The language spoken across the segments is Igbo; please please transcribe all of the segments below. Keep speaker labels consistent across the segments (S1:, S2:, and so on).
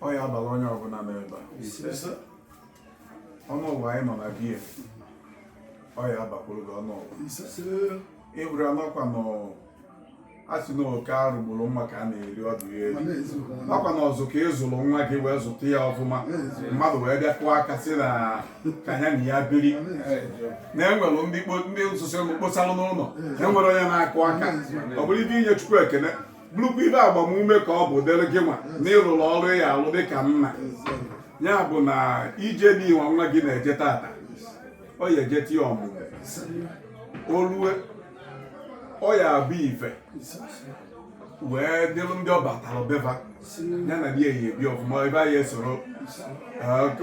S1: ọ ya abala onye ọbụla nọ ebe a ọnụwa anyị nọ na be ya ọ ya abakwuru gị ọnụwa ịbụrụ anọkwa na asị na oke arụ gburu nwa ka a na-eri ọdụ ya eri nakwa na ọzụ ka ị zụrụ nwa gị wee zụta ya ọfụma mmadụ wee bịa kụọ aka sị na ka ya na ya biri na enwere ndị kpo- ndị nsụsị mkposalụ n'ụlọ enwere onye na-akụ aka ọ bụrụ ife inye chukwu ekene bụrụkwa ife agbamume ka ọ bụ dịrị gị nwa na ị rụrụ ọrụ ị ya alụ dị ka nna ya bụ na ije nụwa nwa gị na-eje tata ọ ya ejeta ya ọmụmụ o lue ọ ya abụ ife wee dịrụ ndị ọ batara be va ya na di ya ya ebi ọfụma ebe anyị esoro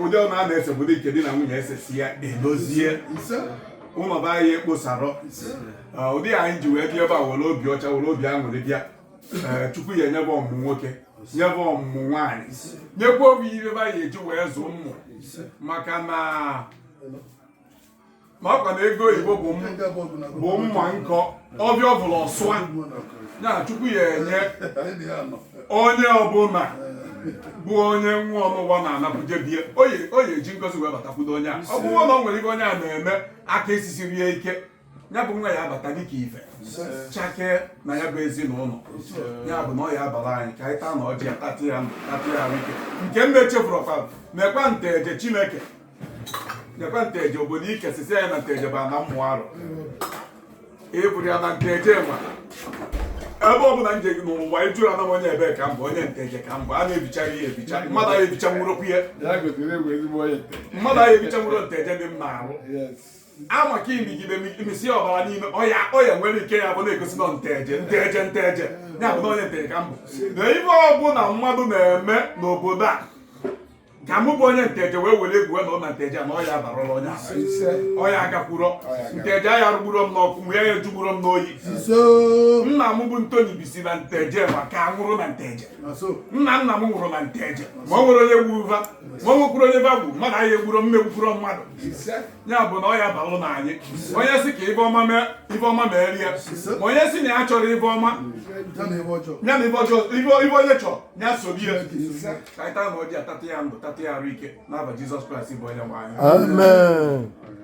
S1: ụdị ọ na-ana ese bụ dị nke di na nwunye ese si ya edozie ụlọ be anyị ekposarọ ụdị ya anyị ji wee bịa ebe a were obi ọcha were obi aṅụrị bịa chukwu ya enye va ọmụmụ nwoke nye va ọmụmụ nwaanyị nyekwa obi ihe ebe anyị eji wee zụọ ụmụ maka na ma ọkwa na ego oyibo bụ mma nkọ ọbịa ọ bụla ọsụa ya chukwu ya enye onye ọbụla bụ onye nwa ọnụwa na-anapụje be ya ọ ya eji ngozi wee batakwudo onye a ọ bụrụ na o nwere ife onye a na-eme aka esisiri ya ike ya bụ nwa ya abata dịka ife chake na ya bụ ezinụlọ ya bụ na ọ ya abara anyị ka anyị taa na ọjị ya tata ya ndụ tata ya ahụike nke m na-echefuru ọkwa nekwa nteje chineke nekwa nteje obodo ike sisi anyị na nteje ba na mmụọ arụ ịbụrụ ya na nteje ma ebe ọ bụla m je n'ụwa ị jụ ya na m onye ebee ka m bụ onye nteje ka m bụ a na-ebicha ya ebicha mmadụ aya ebicha nwụrọkwu ya Ya gotere egwu ezigbo onye. mmadụ aya ebicha nwụrọ nteje dị m n'ahụ Yes. ama ka i migide i misi ọbara n'ime ọ ya ọ ya nwere ike ya bụ na-egosi na nteje nteje nteje ya bụ na onye nteje ka m bụ na ife ọbụla mmadụ na-eme n'obodo a ka mụ bụ onye nteje wee were egwu wee na ụnọ nteje na ọ ya abarụla onye ọ ya agakwuro nteje aya arụgburo m n'ọkụ mụ ya ya ejugburo m n'oyi nna m bụ ntoni bisi na nteje ma ka nwụrụ na nteje nna nna m nwụrụ na nteje ma ọ nwerọ onye gbu va ma nwekwurọ onye va gbu mmadụ aya egburo m m egbukwuro mmadụ ya bụ na ọ ya abalụ na anyị onye si ka ife ọma mee ife ọma meeri ya ma onye si na ya achọrọ ife ọma ya na ife ọjọọ ife ife onye chọọ ya sobe ya ka anyị taa na ọjị atata ya ndụ tata ya arụ ike n'afa jizọs kraịst bụ onye nwe anyị Amen.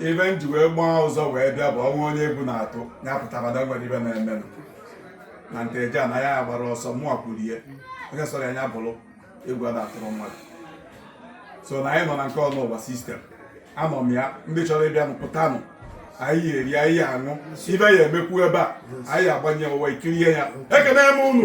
S1: ife m ji wee gbaa ụzọ wee bịa bụ ọnwa onye egwu na-atụ ya pụtara na o nwere ife ọ na-eme na nteje anaghị agbara ọsọ mụọ kwuru ihe onye sọrọ anya bụrụ egwu a na-atụrụ mmadụ so na anyị nọ na nke ọnụwa sistem anọ m ya ndị chọrọ ịbịa pụtanụ anyị eri anyị aṅụ ife ya emekwu ebe a anyị agbanye ụwa ekirie ya ekene m unu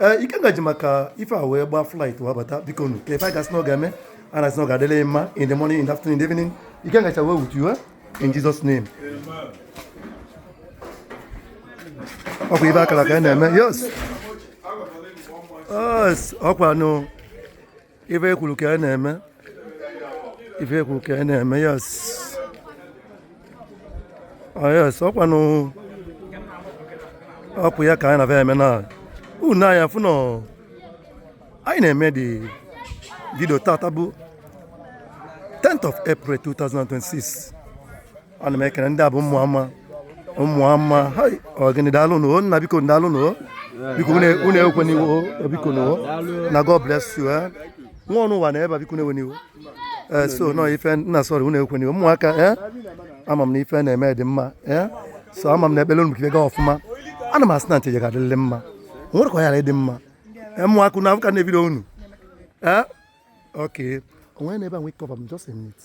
S2: ee eh, ikenga ji maka ife a wee gbaa flight wee bata biko nu ka ife a gasị na ọ ga-eme a na-asị na ọ ga-adịlị mma in the morning in the afternoon in the evening ikenga shall well with you eh? in Jesus name ọkwa ife a kara ka a na-eme yes ọkwa nụ ife ekwuru ka a na-eme ife ekwuru ka a na-eme yes oh, yes ọkwanụ ọkwa ya ka anyị na-abịa eme na unu aya afụ na anyị na-eme the video tata bụ 10th of April 2026 ana m ekele ndị a bụ ụmụ ama ụmụ ama ọ gịnị daalụ nụ o nna biko daalụ nụ o biko unu ewena iwe o biko nụ o na God bless you eh. nwa ọnụ ụwa na ebe a biko ewena iwe eh, so nọ ife nna sọrọ unu ewena iwe ụmụaka eh. ama m na ife na-eme dị mma so ama m na ekpele unu gaa ọfụma ana m asị na Nteje ga-adịrịrị mma nwere ka ọ yara ịdị mma ụmụaka na afọ ka na-ebido unu ee okay onwe na ebe a nwee cover m just a minute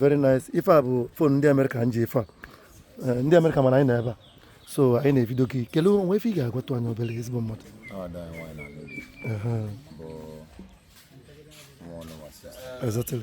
S2: very nice ife a bụ fon ndị amerịka m ji ife a eh, ndị amerịka mana anyị na ebe a so anyị na-evidio gị kelee o nwe ife ị ga-agwatụ anyị obele ezigbo mmadụ Exactly.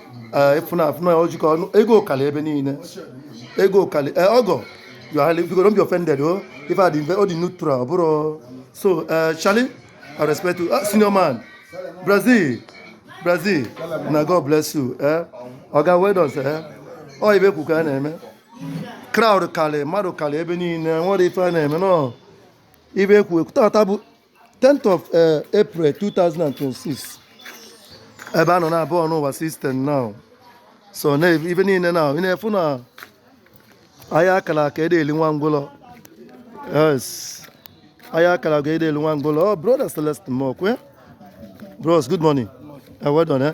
S2: ee ịfụna afụna ya ojikọ ọnụ ego kalị ebe niile ego kalị ee ọgọ yohali biko don't be offended o ife adị mfe ọ dị neutral ọ bụrụ so ee Charlie i respect you ah, senior man brazil brazil na god bless you ee ọga well done ee ọ ife e kwu ka a na-eme crowd kalị mmadụ kalị ebe niile nwere ife a na-eme na ọ ife ekwu ekwu tata bụ 10th of uh, April 2026 ebe a nọ na abụọ n'ụwa system now so na ife niile now ị na-afụ na aya a kala aka ede eli nwa ngwụlọ yes aya a kala aka ede eli nwa ngwụlọ oh brother Celestin Mokwe bros good morning uh, well done eh?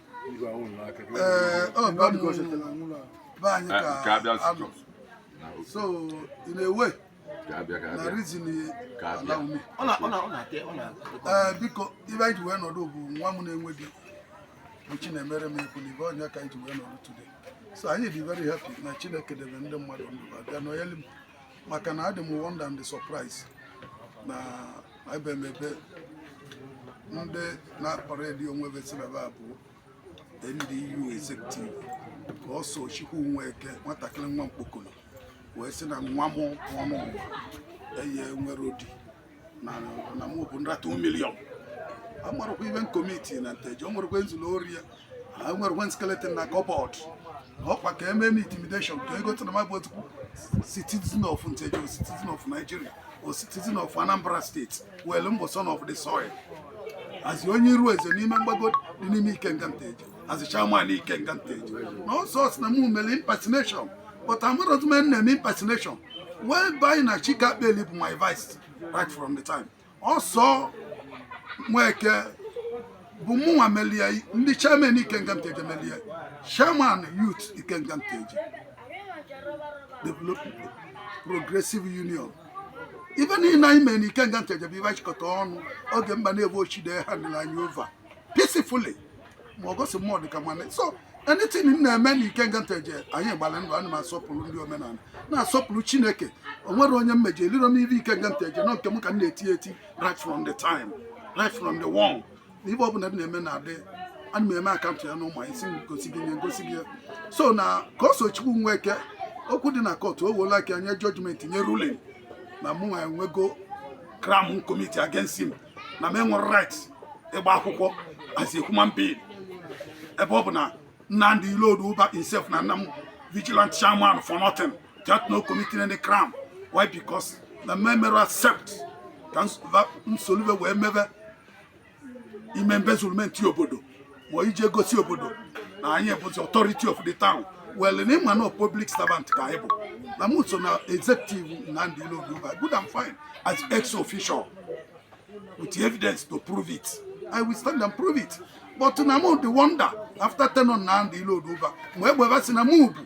S3: so in a way na reason allow me ee biko ife anyị ji wee nọdụ bụ nwa m na-enwe di bụ Chinemerem ekwu na ibe onye ka anyị ji wee nọdụ today so anyị dị very happy na Chineke debe ndị mmadụ ndụ a bịa nọnyeli m maka na adị m wonder and surprise na ebe maybe ndị na-aparade onwe ve sị na va bụ NDU executive ka ọ sọ Chukwu Nweke nwatakịrị nwa mkpokolo wee sị na nwa m ọnụ ụwa eye nwere odi na mụ bụ nrata milion amarọkwa m ive m komiti na nteje o nwerekwa nzụlọ ori ya enwerọkwa m skeleton na kọbọd ọkwa ka eme m intimidation ka ego tụrụ mabụ otu citizen of nteje or citizen of nigeria or citizen of anambra steeti well m bụ son of the soil as onye iru eze n'ime mgbago dị n'ime ikenga nteje as a chairman Ikenga Nteje. Na Ọsọ sị na mụ mere impersonation but amarọzi m na eme impersonation wee banye na Chike Akpeli bụ my vice right from the time. Ọsọ Nweke bụ mụnwa melie ndị chairman Ikenga Nteje melie chairman youth Ikenga Nteje development progressive union ive niile anyị mere na Ikenga Nteje bụ ive achịkọta ọnụ oge Mbanefo Ochide handle anyị over peacefully ma ọ gosi mmụọ dịka nwanne so anything m na-eme na ikenga nteje anyị gbara ndụ ana m asọpụrụ ndị omenala na-asọpụrụ chineke o nwerọ onye m mejọ elirọ m ive ikenga nteje na ọ nke m ka m na-eti eti right from the time right from day one na ive ọbụla m na-eme na-adị ana m eme akaụntụ ya n'ụmụ anyị sị m gosi gị nye ngosi gị ya. so na ka ọsọchukwu nweke okwu dị na kọtụ o woola aka nye jọjimenti nye ruling na mụ nwa enwego crime m komiti against him na m enwere right ịgba akwụkwọ as a human being ebe ọ bụ na Nnamdi Iloduba himself nana m vigilant chairman for nothing that no committing any crime why because na m emerọ accept ka m solu ve wee meve embezzlement obodo ma ije gosi obodo na anyị bụ the authority of the town well na ịma na public servant ka anyị bụ na m so na executive Nnamdi Iloduba good and fine as ex official with evidence to prove it I will stand and prove it but na m the wonder after tenure Nnamdi Iloduba egbeba si na m bụ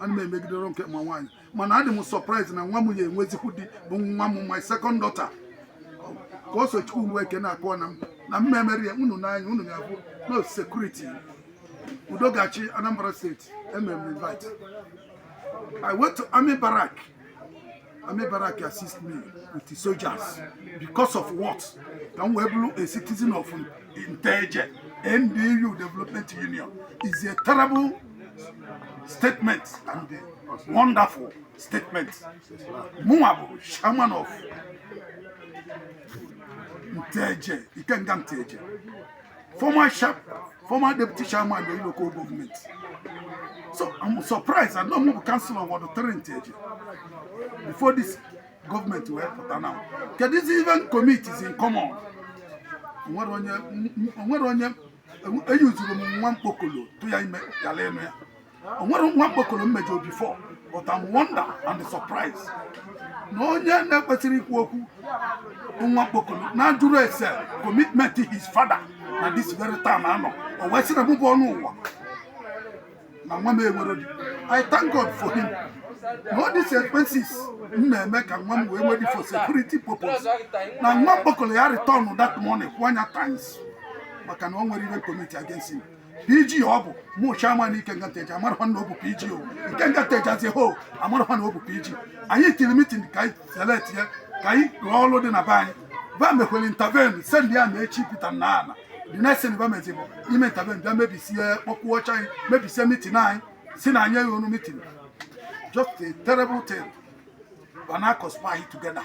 S3: ana m emegide ọrụ nke ma nwaanyị mana adị m sọpraịz na nwa m ya enwezikwu di bụ nwa m my second daughter ka ọsọchukwu nweke na-akọ na m na m emere ya unu n'anya unu ga-abụ no sekuriti udo ga-achị anambra steeti emere m invite i went to army barrack Army barrack assist me with the soldiers because of what? Ka m wee bụrụ a citizen of Nteje NDU Development Union is a terrible statement and a wonderful statement. Mụnwa bụ chairman of Nteje, Ikenga Nteje. former sharp former deputy chairman of the local government so i'm surprised i know move councillor of ward three nteje before this government wee pụta now keduzi ive m komiti in common onwere onye onwere onye eyuzuru m nwa mkpokolo tụ ya ime yala enu ya o nwere nwa mkpokoro mejọrọ before but I'm wonder and surprise na onye na-ekwesịrị ikwu okwu bụ nwa mkpokoro na jụrụ ese commitment his father na this very town a nọ o wee sị na mụ bụ ọnụ ụwa na nwa m enwere di I thank God for him na all these expenses m na-eme ka nwa m wee nwee di for security purpose na nwa mkpokoro ya return that money hundred times maka na o nwere ihe m commit against him PG ọ bụ mụ chairman Ikenga Nteje amarọkwa na ọ bụ PG o Ikenga Nteje as a whole amarọkwa na ọ bụ PG anyị tiri mitin ka anyị select ya ka anyị rụọ ọrụ dị na be anyị ba mekwere intervene send army chụpụta na ala the next thing ba mezi bụ ime intervene bịa mebisie kpọkwuo oche anyị mebisie mitin anyị sị na anyị agaghị anọ mitin just a terrible thing but now conspire together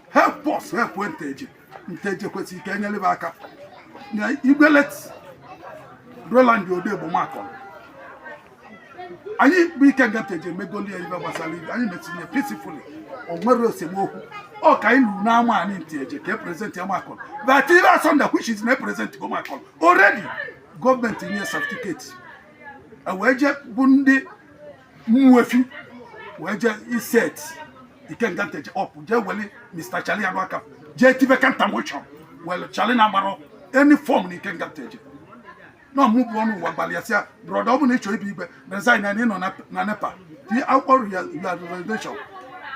S3: help us help nteje nteje kwesịrị ka e nyere m aka nwa igwe late roland odegbo makolo anyị bụ ikenga nteje emegolie ihe gbasara ibe anyị metinye peacefully o nwerọ esemokwu ọ ka anyị luru n'ama anyị nteje ka e present ya makolo but ibe asọnda which is na e presentgo makolo already gọọmenti nye certificate wee je bu ndị ụmụefi wee jee iset ikenga nteje up jee weli mr chali aduaka jee tibe counter motion welu chali na-agbarọ any fọm na ikenga nteje na ọ mụ bụ ọnụ ụwa gbalịa sị ya brọda ọ bụ na ị chọ ịbụ igwe resign na ị nọ na- na nepa tinye akwụkwọ resignation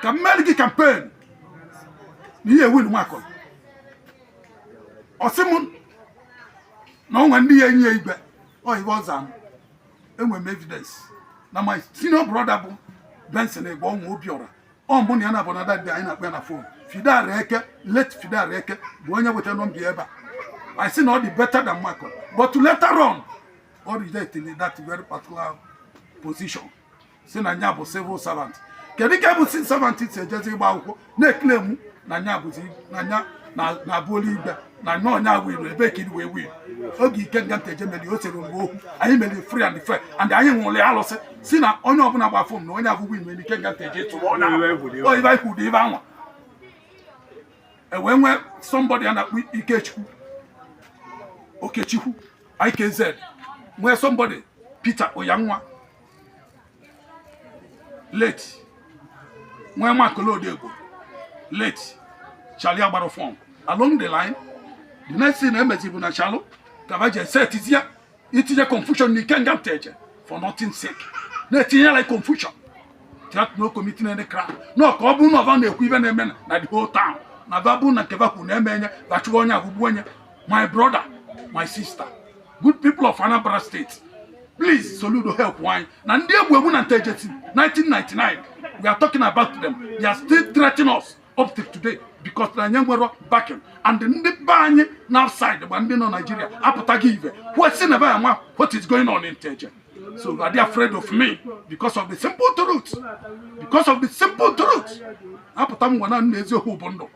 S3: ka m meere gị kampen na ị ya-ewin makolo ọ sị m na o nwe ndị ya-enye ya igwe ọ ihe ọ zaa m enwere m evidence na my senior brother bụ Benson Egbe ọnwa Obiora ọ mụ na ya na-abụ na dadi anyị na-akpọ ya na fon Fidel Eke late Fidel Eke bụ onye weta nọmba ebe anyị sị na ọ dị better than Michael but later on ọ rejected that very particular position sị na nya bụ civil servant kedu ka bụ civil servant si ejezi ịgba akwụkwọ na-eklemu na nya bụzi na nya na-abụolu igwe na nya ọ nya winiri ebe ka wee winiri oge ikenga nteje mere o sere mgbe okwu anyị mere free and fair and anyị ṅụrụ ya alụsị sị na onye ọbụla gba fọm na onye ọbụla win nwere ikenga nteje tụrụ onye ọ ihe anyị kwuru ibe anwa e wee nwee somebody a na-akpọ ikechukwu okechukwu ikz nwee somebody peter oyanwa late nwee makolo odegbo late chali agbarọ fọm along the line the next thing e mezi bụ na chali ka ba je setizi ya itinye confusion na ikenga nteje for nothing sake na-etinye like confusion that not committing any crime no ka ọ bụrụ na ọ ba na-ekwu ihe na-eme na the whole town na ba bụrụ na nke ba kwu na-eme enye ba chụwa onye abụgbu onye my brother my sister good people of Anambra State please Soludo help anyị na ndị egbu egbu na Nteje 1999 we are talking about them they are still threatening us up to today because na anyị nwere backing and ndị be anyị nọ outside gba ndị nọ Nigeria apụtaghị ive kwesị na be ya nwa what is going on in Nteje so are they afraid of me because of the simple truth because of the simple truth apụta m nwa na nna eziokwu bụ ndụ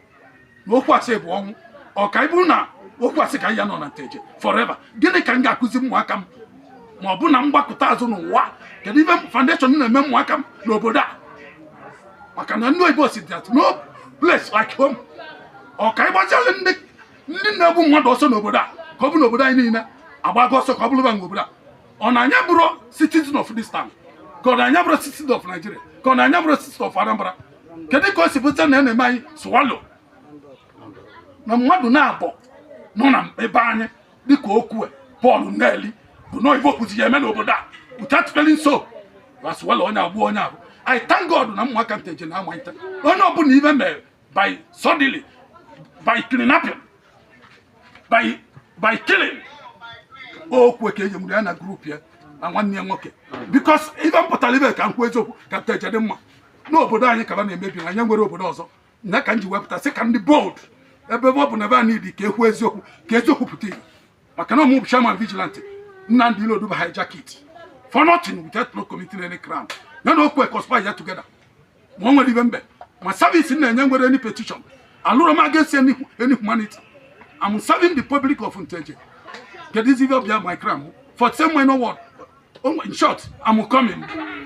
S3: na okwu asị bụ ọnwụ ọ ka ịbụ na okwu asị ka ya-anọ na Nteje forever gịnị ka m ga-akụzi ụmụaka m ma ọ bụ na m gbakụta azụ n'ụwa kedu ive foundation na-eme ụmụaka m n'obodo a maka na ndị oyibo sị that no place like home ọ ka ịgbazialụ ndị ndị na-egbu mmadụ ọsọ n'obodo a ka ọ bụ n'obodo anyị niile agbago ọsọ ka ọ bụrụ ba obodo a ọ na anyị abụrọ citizen of this town ka ọ na anyị abụrọ citizen of Nigeria ka ọ na anyị abụrọ citizen of Anambra kedu ka o si bụta na ya na-eme anyị swallow na mmadụ naabọ nọ na be anyị dịka Okwy Paul Nneli bụ na ife o kwuzi ya-eme n'obodo a without feeling so aswallow onye agbụ onye abụ I thank God na ụmụaka Nteje na-amata onye ọbụla ive mere by suddenly, by kidnapping, by by killing. Okwy ka e ji mụrụ ya na group ya na nwanne ya nwoke because ive m pụtara ibe ka m kwuo eziokwu ka Nteje dị mma n'obodo anyị ka va na-emebi na anyị enwerọ obodo ọzọ na ka m ji wee pụta sị ka m dị bold ebe ọ bụ na ebe a niile ka e kwuo eziokwu ka eziokwu pụta ihe maka na ọ mụ bụ chairman vigilante Nnamdi Iloduba hijack it for nothing without no committing any crime ya na Okwy conspire together ma o nwere ibe mbe ma service m na-enye nwere any petition alụrụ m against any any humanity I'm serving the public of Nteje kedu izi ibe ọbịa my crown for the same way no word Oh, in short, I'm coming.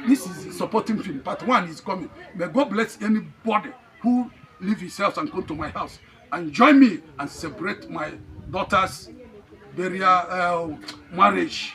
S3: This is supporting film. Part one is coming. May God bless anybody who leave his house and come to my house and join me and celebrate my daughter's burial uh, marriage.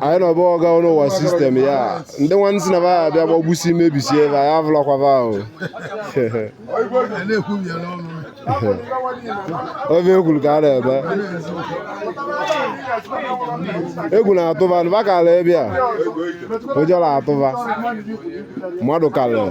S4: anyị nọba ọga ọrụ ụwa system ya ndị nwanne sị na va abịa gbagbusi mebisi ebe anyị avụlakwaba ahụ ọ ive e kwuru ka a na-eme egwu na-atụ va nụba kara ebe a ụjọ na-atụ va mmadụ karịrị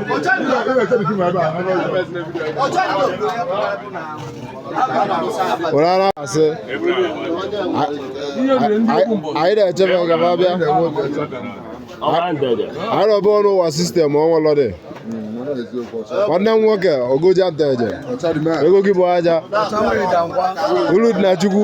S4: were ara asị anyị na-echebe ka ma bịa arọba ọrụ ụwa system ọnwụlọdị nwanne m nwoke ogoja Nteje ego gị bụ aja ulu dị na chukwu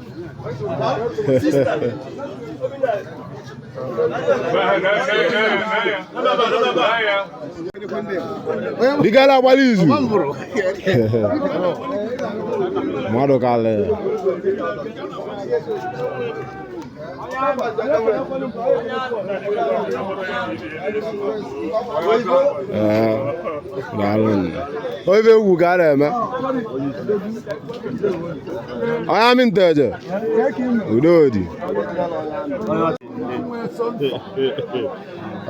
S4: Digala agbala izu mmadụ kalị daalụ nna ọ ive egwu ka a na-eme onye amị nteje udodi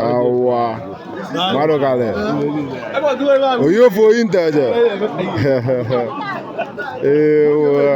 S4: awa mmadụ kalị oyi ofe oyi nteje ewa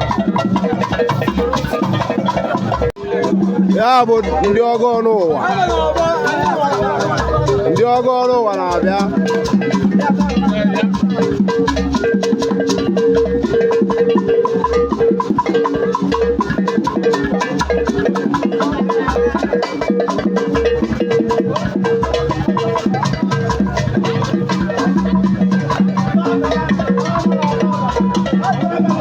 S4: ya bụ ndị ọgọ nụwa ndị ọgọ nụwa na-abịa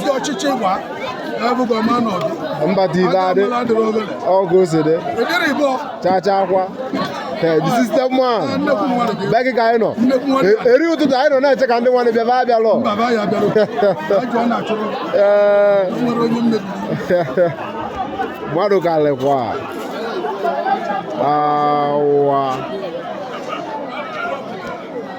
S3: si ọchịchị gwa ebugo ma nọdụ mba dị
S4: ibe adị ọgụ
S3: osede chacha akwa
S4: the system man be gị ka anyị nọ eri ụtụtụ anyị nọ na-eche ka ndị nwanne bịaba abịa
S3: lọ mmadụ
S4: kalịkwa awa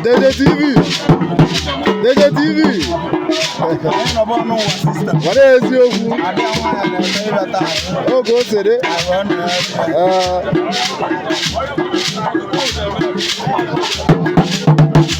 S4: Nteje TV. Nteje TV. Were eziokwu. Oge o sere. Ee.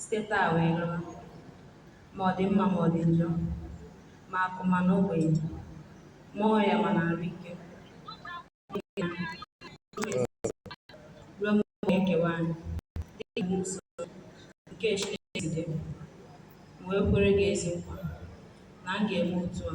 S5: site taa wee gawa, ma ọ dị mma ma ọ dị njọ, ma akụ ma na ogbenye, ma ọrịa ma na arụ ike, ruo mgbe ọ ga-ekewa anyị dị ka iwu nsọ nke Chineke si dị, m wee kwere gị ezi nkwa na m ga-eme otu a.